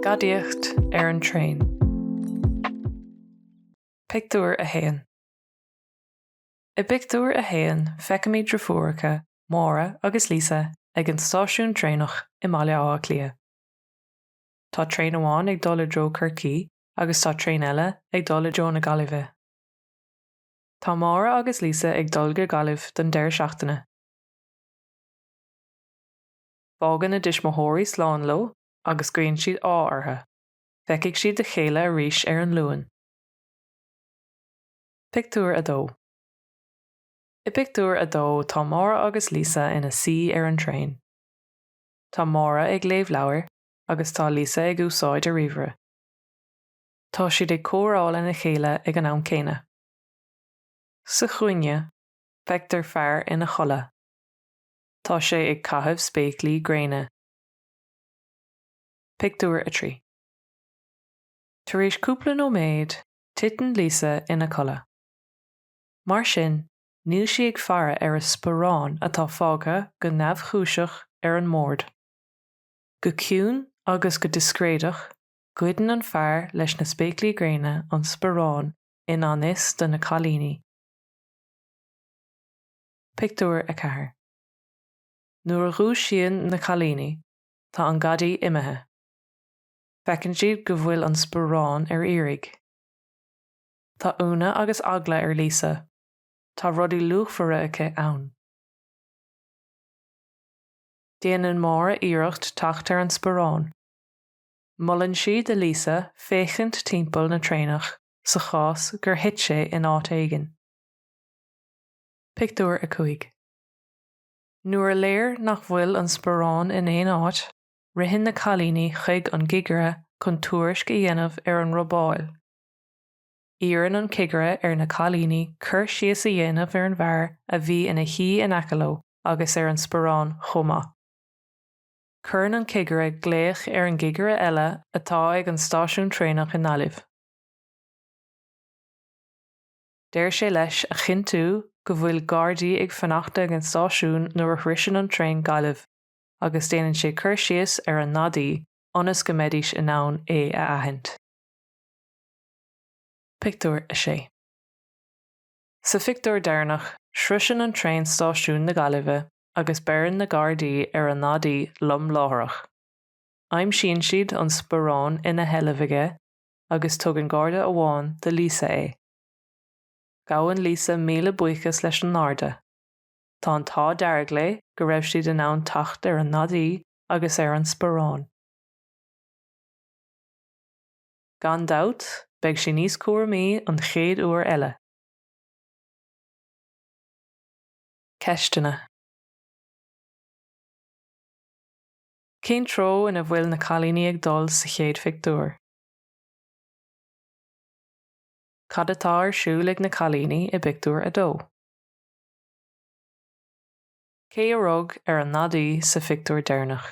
Gadaíocht ar an traein. Pictiúr 1. I bpictiúr a haon feicimid driofúracha, Máire agus Lisa, ag an stáisiún traenach i mBaile Átha Cliath. Tá traein amháin ag dul i dtreo Chorcaí agus tá traein eile ag dul i dtreo na Gaillimhe. Tá Máire agus Lisa ag dul go Gaillimh don deireadh seachtaine. Fágann a dtuismitheoirí slán leo agus guíonn siad ádh orthu. Feicfidh siad a chéile arís ar an Luan. Pictiúr 2 I bpictiúr a dó tá Máire agus Lisa ina suí ar an traein. Tá Máire ag léamh leabhair agus tá Lisa ag úsáid a ríomhaire. tá siad ag comhrá lena chéile ag an am céanna. Sa chúinne, feictear fear ina chodladh. Tá sé ag caitheamh spéaclaí gréine. Pictiúr 3 Tar éis cúpla nóiméad, titeann Lisa ina codladh. Mar sin, níl sí ag faire ar a sparán atá fágtha go neamhchúiseach ar an mbord. Go ciúin agus go discréideach, Goideann an fear leis na spéaclaí gréine an sparán i ngan fhios do na cailíní. Pictiúr 4 Nuair a dhúisíonn na cailíní, tá an gadaí imithe. Feiceann siad go bhfuil an sparán ar iarraidh. Tá ionadh agus eagla ar Lisa, tá rudaí luachmhara aici ann. Déanann Máire iarracht teacht ar an sparán. Molann sí do Lisa féachaint timpeall na traenach sa chás gur thit sé in áit éigin. Pictiúr 5 Nuair is léir nach bhfuil an sparán in aon áit, ritheann na cailíní chuig an gcigire chun tuairisc a dhéanamh ar an robáil. Iarrann an cigire ar na cailíní cur síos a dhéanamh ar an bhfear a bhí ina shuí in aice leo agus ar an sparán chomh maith. cuireann an cigire glaoch ar an gcigire eile atá ag an stáisiún traenach i nGaillimh. Deir sé leis a chinntiú go bhfuil Gardaí ag fanacht ag an stáisiún nuair a shroiseann an traein Gaillimh agus déanann sé cur síos ar an ngadaí ionas go mbeidís in ann é a aithint. Pictiúr 6 Sa phictiúr deireanach, sroiseann an traein stáisiún na Gaillimhe agus beireann na gardaí ar an ngadaí lom láithreach. Aimsíonn siad an sparán ina sheilbh aige agus tugann garda amháin do Lisa é. Gabhann Lisa míle buíochas leis an ngarda. Tá an t-ádh dearg léi go raibh siad in ann teacht ar an ngadaí agus ar an sparán. Gan dabht, beidh sí níos cúramaí an chéad uair eile. Ceisteanna. Cén treo ina bhfuil na cailíní ag dul sa chéad phictiúr? Cad atá ar siúl ag na cailíní i bpictiúr a dó? Cé a rug ar an ngadaí sa phictiúr deireanach?